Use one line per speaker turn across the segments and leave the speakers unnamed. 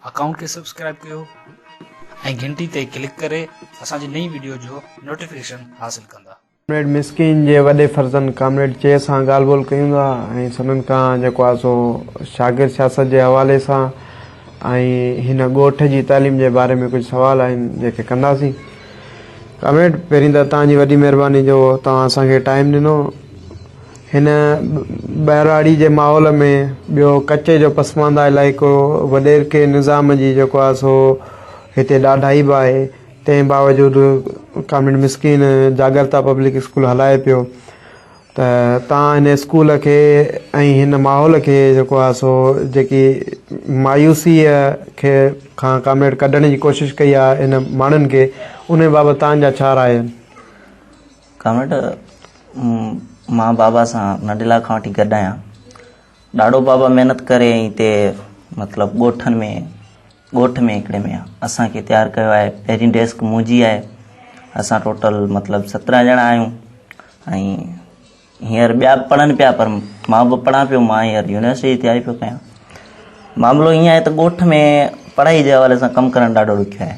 Account کي subscribe ڪيو ۽ گهنٽي تي ڪلڪ ڪري اسان جي نئين وڊيو جو نوٽيفڪيشن حاصل ڪندا. ڪامريڊ مسڪين
جي وڏي فرزند ڪامريڊ چيء سان ڳالهه ٻولهه ڪيون ٿا ۽ سندن ڪان جيڪو آهي سو شاگرد سياست جي حوالي سان ۽ هن ڳوٺ جي تعليم جي باري ۾ ڪجهه سوال آهن جيڪي ڪنداسين ڪامريڊ پهرين ته توهان جي وڏي مهرباني جو توهان اسان کي ٽائيم ڏنو. هن ٻهراڙي جي ماحول ۾ ٻيو ڪچي جو پسمانده علائقو وڏيرڪي نظام جي جيڪو آهي سو هتي ڏاڍائي به آهي تنهن باوجود ڪامريڊ مسڪين جاڳرتا پبلڪ اسڪول هلائي پيو ته تان هن اسڪول کي ۽ هن ماحول کي جيڪو آهي سو جيڪي مايوسيء کي کان ڪامريڊ ڪڍڻ جي ڪوشش ڪئي آهي هن ماڻهن کي ان بابت تان جا ڇا راء آهن ڪاميٽ،
مان بابا سان ننڍي لاء کان وٺي گڏ آهيان. ڏاڏو بابا محنت ڪري ۽ هتي مطلب ڳوٺن ۾ ڳوٺ ۾ هڪڙي ۾ اسان کي تيار ڪيو آهي. پهرين ڊيسڪ منهنجي آهي. اسان ٽوٽل مطلب سترهن ڄڻا آهيون ۽ هينئر ٻيا به پڙهن پيا پر مان به پڙهان پيو مان هينئر يونيورسٽي جي تياري پيو ڪيان معاملو ائين آهي ته ڳوٺ ۾ پڙهائي جي حوالي سان ڪم ڪرڻ ڏاڍو ڏکيو آهي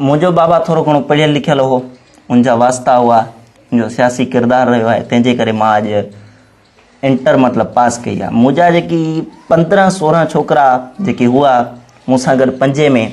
منهنجو بابا ٿورو گهڻو پڙهيل لکيل هو، ان جا واسطا هئا، ان جو سياسي ڪردار رهيو آهي، تنهن جي ڪري مان اڄ انٽر مطلب پاس ڪئي آهي. مون جا جيڪي پندرهن سورهن ڇوڪرا جيڪي هئا مون سان گڏ پنجين ۾،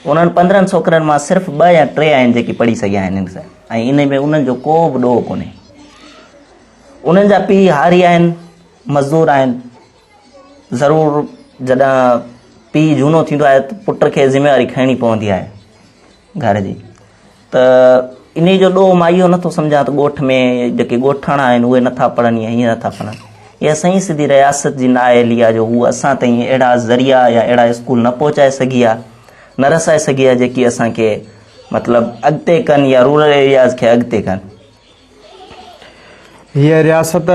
انهن پندرهن ڇوڪرن مان صرف ٻه يا ٽي آهن جيڪي پڙهي سگهيا آهن ان سان ۽ ان ۾ انهن جو ڪو به ڏوهه ڪونهي. انهن جا پيء هاري آهن، مزدور آهن. ضرور جڏهن پيء جهونو ٿيندو آهي ته پٽ کي ذميواري کڻڻي پوندي آهي گهر جي ته ان جو ڏوهه مان اهو نٿو سمجهان ته ڳوٺ ۾ جيڪي ڳوٺاڻا آهن اهي نٿا پڙهن يا ائين نٿا پڙهن اها سائين سڌي رياست جي نااهلي آهي جو هو اسان تائين اهڙا ذريعا يا اهڙا اسڪول نه پهچائي سگهي آهي نه رسائي سگهي آهي جيڪي اسانکي مطلب اڳتي ڪن يا رورل ايرياز کي اڳتي ڪن
هيء رياست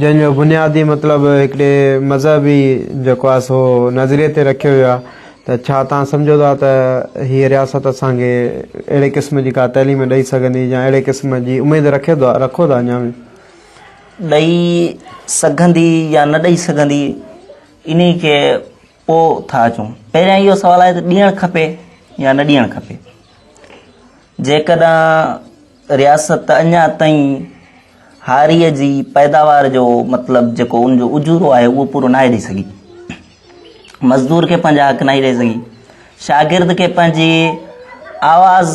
جنهن جو بنيادي مطلب هڪڙي مذهبي جيڪو آهي سو نظريي تي رکيو ويو آهي ته ڇا توهان سمجهو ٿا ته هيء رياست اسان کي اهڙي قسم جي ڪا تعليم ڏئي سگهندي يا اهڙي قسم جي اميد رکيو ٿا رکو ٿا اڃا به ڏئي
سگهندي يا نه ڏئي سگهندي انهي کي پوء ٿا اچون پهريان اهو سوال آهي ته ڏيڻ کپي يا نه ڏيڻ کپي جيڪڏهن رياست اڃا تائين هاريء جي پيداوار جو مطلب جيڪو ان جو اجورو آهي اهو پورو ناهي ڏئي سگهي مزدور کي پنهنجا حق ناهي ڏئي سگهي شاگرد کي پنهنجي آواز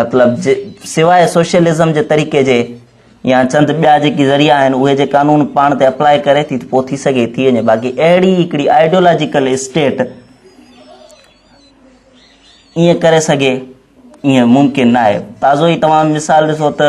مطلب سواء سوشلزم جي طريقي جي يا چند ٻيا جيڪي ذريعا آهن اهي جي قانون پاڻ تي اپلاء ڪري ٿي ته پوء ٿي سگهي ٿي وڃي باقي اهڙي هڪڙي آئيڊيولاجيڪل اسٽيٽ ائين ڪري سگهي ائين ممڪن نه آهي تازو ئي توهان مثال ڏسو ته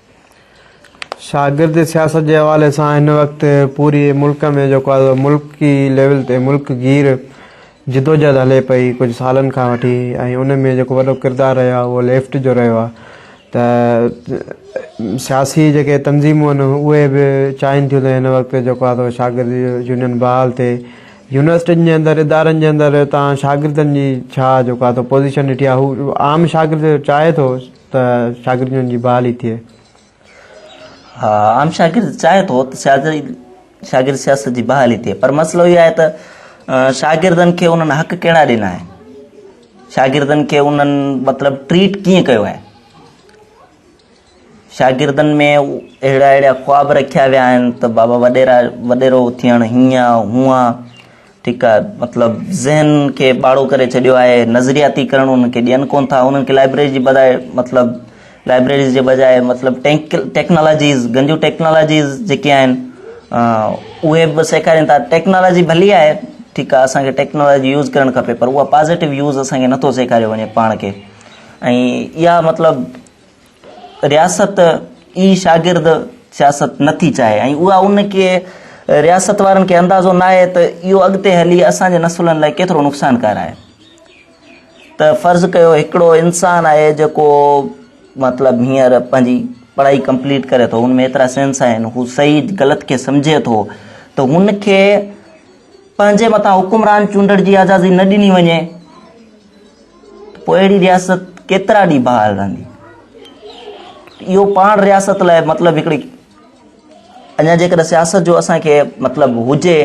شاگرد
سياست جي حوالي سان هن وقت پوري ملڪ ۾ جيڪو آهي ملڪي ليول تي ملڪ گير جدوجهد هلي پئي ڪجهه سالن کان وٺي ۽ ان ۾ جيڪو وڏو ڪردار رهيو آهي اهو ليفٽ جو رهيو آهي ته سياسي جيڪي تنظيمون آهن اهي به چاهين ٿيون ته هن وقت جيڪو آهي سو شاگرد يونين بحال ٿئي يونيورسٽين جي اندر ادارن جي اندر تان شاگردن جي ڇا جيڪو آهي سو پوزيشن ڏٺي آهي هو عام شاگرد چاهي ٿو
ته شاگرد جن جي بحالي ٿئي. عام شاگرد چاهي ٿو ته شاگرد سياست جي بحالي ٿئي پر مسئلو اهو آهي ته شاگردن کي انهن حق ڪهڙا ڏنا آهن شاگردن کي انهن مطلب ٽريٽ ڪيئن ڪيو آهي شاگردن ۾ اهڙا اهڙا خواب رکيا ويا آهن ته بابا وڏيرا وڏيرو ٿيڻ هيئن هونئن ٺيڪ آهي مطلب ذهن کي ٻاڙو ڪري ڇڏيو آهي نظرياتي ڪرڻ انهن کي ڏين ڪون ٿا انهن کي لائبريري جي بجاء مطلب لائبريريز جي بجاء مطلب ٽيڪنالاجيز گنجو ٽيڪنالاجيز جيڪي آهن اهي به سيکارين ٿا ٽيڪنالاجي ڀلي آهي ٺيڪ آهي اسانکي ٽيڪنالاجي يوز ڪرڻ کپي پر اها پازيٽو يوز اسانکي نٿو سيکاريو وڃي پاڻ کي ۽ اها مطلب رياست ئي شاگرد سياست نه ٿي چاهي ۽ اها ان کي رياست وارن کي اندازو ناهي ته اهو اڳتي هلي اسان جي نسلن لاء ڪيترو نقصانڪار آهي ته فرض ڪيو هڪڙو انسان آهي جيڪو مطلب هينئر پنهنجي پڙهائي ڪمپليٽ ڪري ٿو هن ۾ ايترا سينس آهن هو صحيح غلط کي سمجھي ٿو ته هن کي پنهنجي مٿان حڪمران چونڊڻ جي آزادي نه ڏني وڃي پوء اهڙي رياست ڪيترا ڏينهن بحال رهندي اهو پاڻ رياست لاء مطلب هڪڙي اڃا جيڪڏهن سياست جو اسانکي مطلب هجي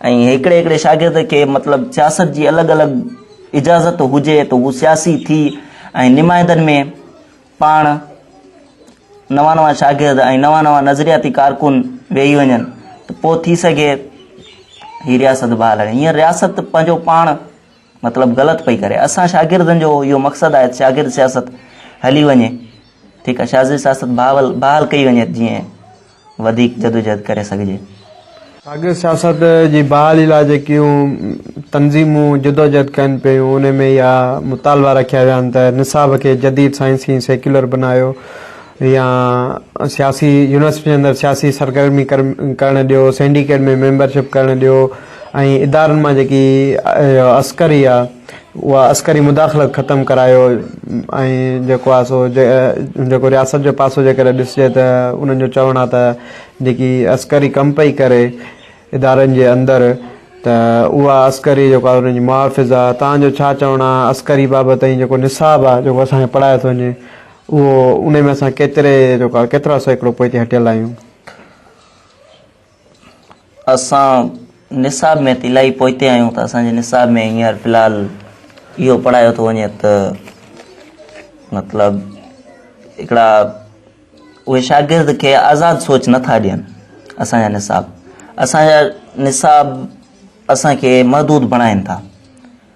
۽ هڪڙي هڪڙي شاگرد کي مطلب سياست جي الڳ الڳ اجازت هجي ته هو سياسي ٿي ۽ نمائندن ۾ پاڻ نوان نوان شاگرد ۽ نوان نوان نظرياتي ڪارڪن ويهي وڃن ته پوء ٿي سگهي هي رياست بحال رهي هينئر رياست پنهنجو پاڻ مطلب غلط پئي ڪري اسان شاگردن جو اهو مقصد آهي ته شاگرد سياست هلي وڃي ٺيڪ آهي شاگرد سياست بحال بحال ڪئي وڃي جيئن وڌيڪ جدوجهد ڪري سگهجي شاگرد
سياست جي بحالي لاء جيڪيون تنظيمون جدوجهد ڪن پيون ان ۾ اها مطالبا رکيا ويا آهن ته نصاب کي جديد سائنسي ۽ سيڪيولر بنايو يا سياسي يونيورسٽي جي اندر سياسي سرگرمي ڪرڻ ڏيو سينڊيڪيٽ ۾ ميمبرشپ ڪرڻ ڏيو ۽ ادارن مان جيڪي عسڪري آ اها عسڪري مداخلت ختم ڪرايو ۽ جيڪو آ سو جيڪو رياست جو پاسو جيڪڏهن ڏسجي ته انهن جو چوڻ آ ته جيڪي عسڪري ڪم پئي ڪري ادارن جي اندر ته اها عسڪري جيڪو آ انهن جي محافظ آ توهان جو ڇا چوڻ آ عسڪري بابت ۽ جيڪو نصاب آ جيڪو اسان کي پڙهايو ٿو وڃي اهو انهي ۾ اسان ڪيتري جيڪو آ ڪيترا سيڪڙو پوئتي هٽيل آهيون.
اسان نصاب ۾ ته الاهي پوئتي آهيون ته اسان جي نصاب ۾ هينئر في الحال اهو پڙهايو ٿو وڃي ته مطلب هڪڙا اهي شاگرد کي آزاد سوچ نٿا ڏين اسانجا نصاب اسانجا نصاب اسانکي محدود بڻائين ٿا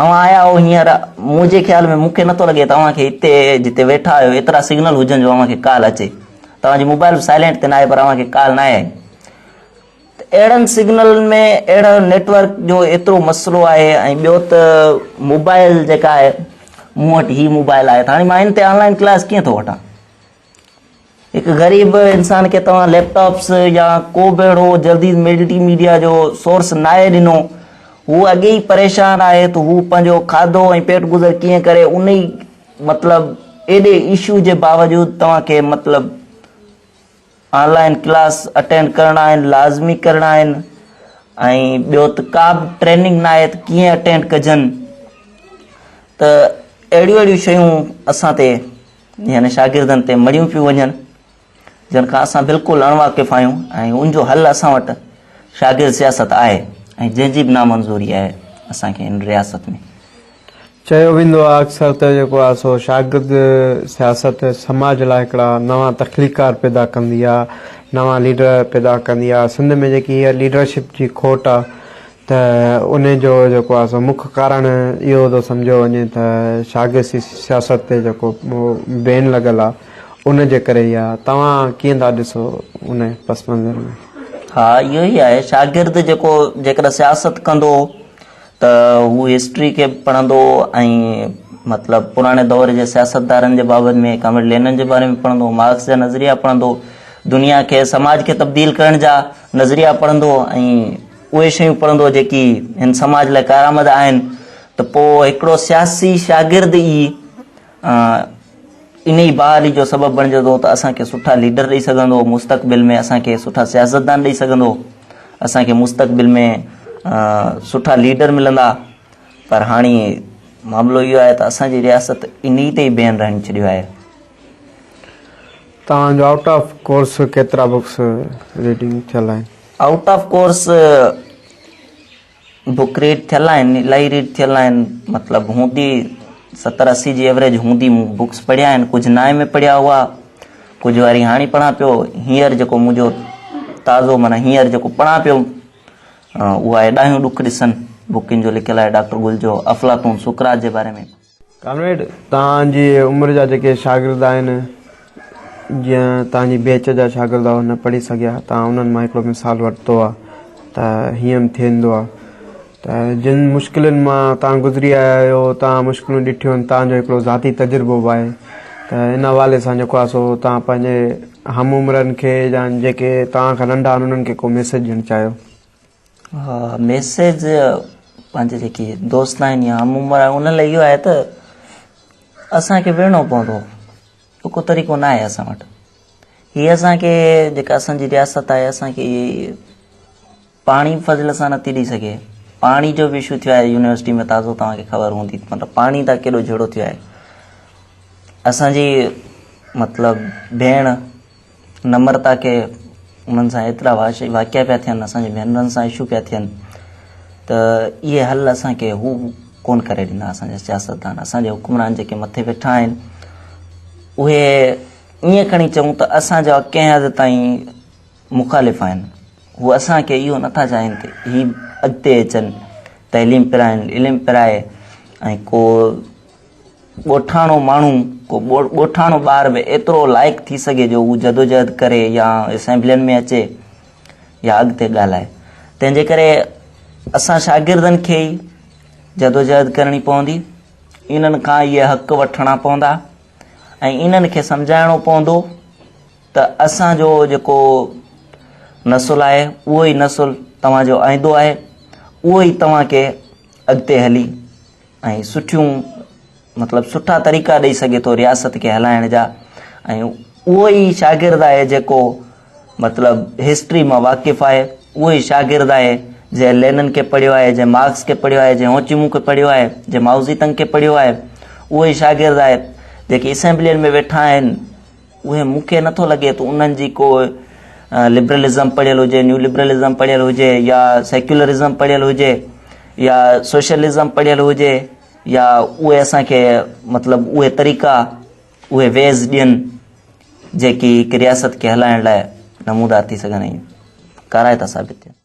اوهان آيا آهو هينئر، منهنجي خيال ۾ مون کي نٿو لڳي توهان کي هتي جتي ويٺا آهيو ايترا سگنل هجن جو اوهان کي ڪال اچي. توهان جي موبائل به سائلينٽ تي ناهي پر اوهان کي ڪال ناهي آئي. ته اهڙن سگنلن ۾ اهڙو نيٽ ورڪ جو ايترو مسئلو آهي ۽ ٻيو ته موبائل جيڪا آهي مون وٽ هي موبائل آهي ته هاڻي مان ان تي آنلائن ڪلاس ڪيئن ٿو وٺان. هڪ غريب انسان کي توهان ليپ ٽاپس يا ڪو به اهڙو جلدي ملٽي ميڊيا جو سورس ناهي ڏنو هو اڳي ئي پريشان آهي ته هو پنهنجو کاڌو ۽ پيٽ گذر ڪيئن ڪري ان ئي مطلب ايڏي ايشو جي باوجود توهان کي مطلب آن لائن ڪلاس اٽينڊ ڪرڻا آهن لازمي ڪرڻا آهن ۽ ٻيو ته ڪا به ٽريننگ نه آهي ته ڪيئن اٽينڊ ڪجن ته اهڙيون اهڙيون شيون اسان تي يعني شاگردن تي مڙيون پيون وڃن جن کان اسان بلڪل اڻ واقف آهيون ۽ ان جو حل اسان وٽ شاگرد سياست آهي ۽ جنهن جي به نامنظوري آهي اسان کي ان رياست ۾ چيو
ويندو آهي اڪثر ته جيڪو آهي سو شاگرد سياست سماج لاء هڪڙا نوان تخليقار پيدا ڪندي آهي نوان ليڊر پيدا ڪندي آهي سنڌ ۾ جيڪي هيء ليڊرشپ جي کوٽ آهي ته ان جو جيڪو آهي سو مک ڪارڻ اهو ٿو سمجهيو وڃي ته شاگردي سياست تي جيڪو بين لڳل آهي ان جي ڪري ئي آهي توهان ڪيئن ٿا ڏسو ان پس منظر ۾؟ ها اهو ئي
آهي شاگرد جيڪو جيڪڏهن سياست ڪندو ته هو هسٽري کي به پڙهندو ۽ مطلب پراڻي دور جي سياستدارن جي بابت ۾ ڪامريڊ لينن جي باري ۾ پڙهندو مارڪس جا نظريا پڙهندو دنيا کي سماج کي تبديل ڪرڻ جا نظريا پڙهندو ۽ اهي شيون پڙهندو جيڪي هن سماج لاء ڪارآمد آهن ته پوء هڪڙو سياسي شاگرد ئي انهي بحالي جو سبب بڻجي ٿو ته اسان کي سٺا ليڊر ڏئي سگهندو مستقبل ۾ اسان کي سٺا سياستدان ڏئي سگهندو اسان کي مستقبل ۾ سٺا ليڊر ملندا پر هاڻي معاملو اهو آهي ته اسان جي رياست انهي تي ئي بيهن رهن ڇڏيو آهي
توهان جو آئوٽ آف ڪورس ڪيترا بڪس ريڊنگ ٿيل آهن out of course
book read ٿيل آهن الاهي ريڊ ٿيل آهن مطلب هوندي ستر اسي جي ايوریج هوندي مون بڪس پڙهيا آهن ڪجهه نائين ۾ پڙهيا هئا ڪجهه واري هاڻي پڙهان پيو هينئر جيڪو منهنجو تازو مانا هينئر جيڪو پڙهان پيو اها ايڏاهيون ڏک ڏسن بڪن جو لکيل آهي ڊاڪٽر گل جو افلاطون سقراط جي باري ۾ ڪامريڊ
توهان جي عمر جا جيڪي شاگرد آهن جيئن توهان جي بيچ جا شاگرد هئا نه پڙهي سگهيا توهان انهن مان هڪڙو مثال ورتو آهي ته هيئن به ٿيندو آهي ته جن مشڪلن مان توهان گذري آيا آهيو توهان مشڪلون ڏٺيون آهن توهان جو هڪڙو ذاتي تجربو به آهي ته ان حوالي سان جيڪو آهي سو توهان پنهنجي هم عمرن کي يا جيڪي توهان کان ننڍا آهن انهن کي ڪو ميسيج ڏيڻ چاهيو ميسيج
پنهنجي جيڪي دوست آهن يا هم عمر آهن ان لاء اهو آهي ته اسان کي ويڙهڻو پوندو اهو ڪو طريقو نه آهي اسان وٽ هي اسان کي جيڪا اسان جي رياست آهي اسان کي پاڻي فضل سان نٿي ڏئي سگهي پاڻي جو به اشو ٿيو آهي يونيورسٽي ۾ تازو توهان کي خبر هوندي مطلب پاڻي تان ڪيڏو جهيڙو ٿيو آهي اسانجي مطلب ڀيڻ نمرتا کي انهن سان ايترا واقعا پيا ٿين اسان جي ڀينرن سان اشو پيا ٿين ته اهي حل اسان کي هو ڪون ڪري ڏنا اسان جا سياستدان اسان جا حڪمران جيڪي مٿي ويٺا آهن اهي ائين کڻي چئون ته اسان جا ڪنهن حد تائين مخالف آهن هو اسان کي اهو نٿا چاهين ته هي اڳتي اچن تعليم پرائن علم پرائي ۽ ڪو ڳوٺاڻو ماڻهو، ڪو ڳوٺاڻو ٻار به ايترو لائق ٿي سگهي جو هو جدوجهد ڪري يا اسيمبلين ۾ اچي يا اڳتي ڳالهائي. تنهن جي ڪري اسان شاگردن کي ئي جدوجهد ڪرڻي پوندي، انهن کان اهي حق وٺڻا پوندا ۽ انهن کي سمجهائڻو پوندو ته اسان جو جيڪو نسل آهي اهو ئي نسل توهان جو آئندو آهي، اهو ئي توهان کي اڳتي هلي ۽ سٺيون مطلب سٺا طريقا ڏئي سگهي ٿو رياست کي هلائڻ جا ۽ اهو ئي شاگرد آهي جيڪو مطلب هسٽري مان واقف آهي اهو ئي شاگرد آهي جنهن لينن کي پڙهيو آهي جنهن مارڪس کي پڙهيو آهي جنهن هوچيمون کي پڙهيو آهي جنهن ماؤزي تنگ کي پڙهيو آهي اهو ئي شاگرد آهي جيڪي اسيمبلين ۾ ويٺا آهن اهي مون کي نٿو لڳي ته انهن جي ڪو لبرلزم پڙهيل هجي، نيو لبرلزم پڙهيل هجي يا سيڪيولرزم پڙهيل هجي يا سوشلزم پڙهيل هجي يا اهي اسان کي مطلب اهي طريقا اهي ويز ڏين جيڪي هڪ رياست کي هلائڻ لاء نمودار ٿي سگهن ۽ ڪارائتا ثابت ٿين.